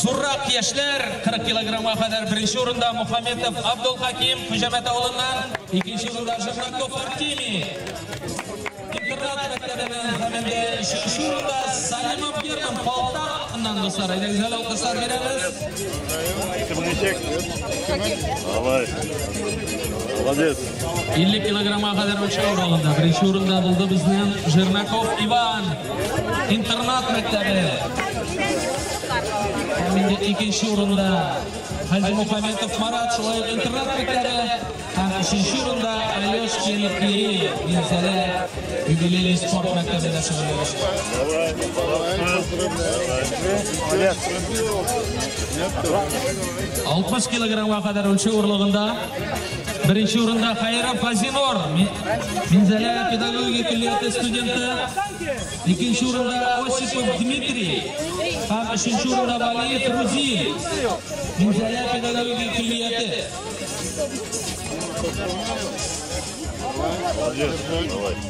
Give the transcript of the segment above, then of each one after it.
Зуррак яшьләр 40 килограммга кадәр беренче урында Мухаммедов Абдулхаким Хуҗамәт авылыннан, икенче урында Жирнаков Артемий. Интернат мәктәбеннән хәмендә өченче урында Салимов Герман Полтава Аннан дуслар, әйдә гүзәл алкышлар бирәбез. Кем ничек? Давай. Молодец. 50 килограмма кадәр үлчәү аралыгында беренче урында булды безнең Жернаков Иван интернат мәктәбе. Һәм инде икенче урында Хаҗи Мухаметов Марат шулай ук интернат мәктәбе һәм өченче урында Алешкин Кирилл Минзәлә юбилейный спорт мәктәбендә шөгыльләнәчәк. Алтмыш килограммга кадәр үлчәү орлыгында Беренче урында Хайров Фазинор, Минзәлә педагогия көллияте студенты. Икенче урында Осипов Дмитрий. Һәм өченче урында Валиев Рузин, Минзәлә педагогия көллияте. Молодец, давай.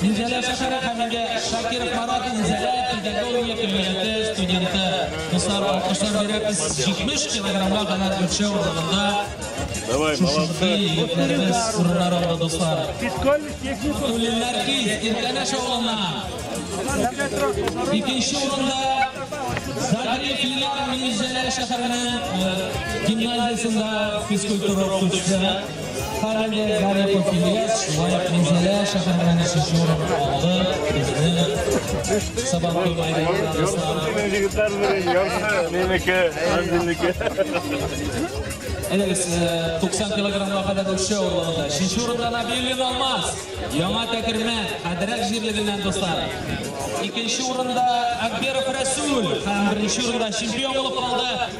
Минзәлә шәһәре һәм инде Шакиров Марат Минзәлә педагогия көллияте студенты. Дуслар, алкышлар бирәбез 70 килограммга кадәр үлчәү урынында. Давай, молодцы. Егетләребез урыннар алды, дуслар. Фискальный техник. Түлелләр ки, Иркәнәш авылына. Икенче урында Загри Филар Минзәлә шәһәренең гимназиясендә физкультура укытучысы. Карамбек Гарипов Ильяс шулай ук Минзәлә шәһәреннән өченче урынны алды. Безнең Сабантуй майданында Руслан. Егетләр белән ярты минеке, минеке. Әйдәгез, 90 килограммга кадәр үсеше авырлыгында. Өченче урында Набилин Алмаз. Яңа Тәкермә, Хәдрәк җирлегеннән дуслар. Икенче урында Акберов Рәсүл һәм беренче урында чемпион булып калды.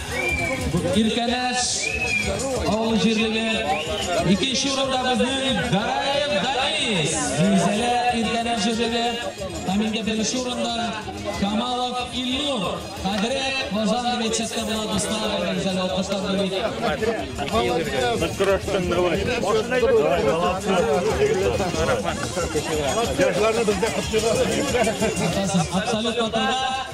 Иркәнәш авыл җирлеге. Икенче урында безнең Гараев Данис. Зилзәлә Иркәнәш җирлеге. Һәм инде беренче урында Камалов Илнур. Хәзрәт Казан рецепты була дуслар. Зилзәлә алкыштан бүлик. Молодец. Көрәштең давай. Давай, молодцы. Яшьләрне бездә кыскыгасыз. Абсолютно туры.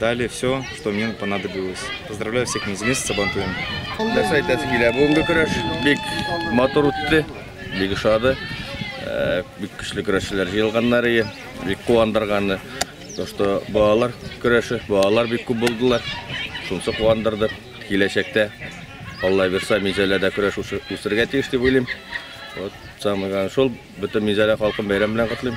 Дали все, что мне понадобилось. Поздравляю всех минзилен с Сабантуем. Нәрсә әйтәсе килә? Бүгенге көрәш бик матур үтте, бик ошады. Э, бик көчле көрәшчеләр җыелганнар ие, бик куандырганы. То, что балалар көрәше, балалар бик күп булдылар. Шунсы куандырды. Киләчәктә Алла бирса, Мизәләдә көрәш үсергә тиеш дип уйлыйм. Вот самый главный шул, бөтен Мизәлә халкын бәйрәм белән котлыйм.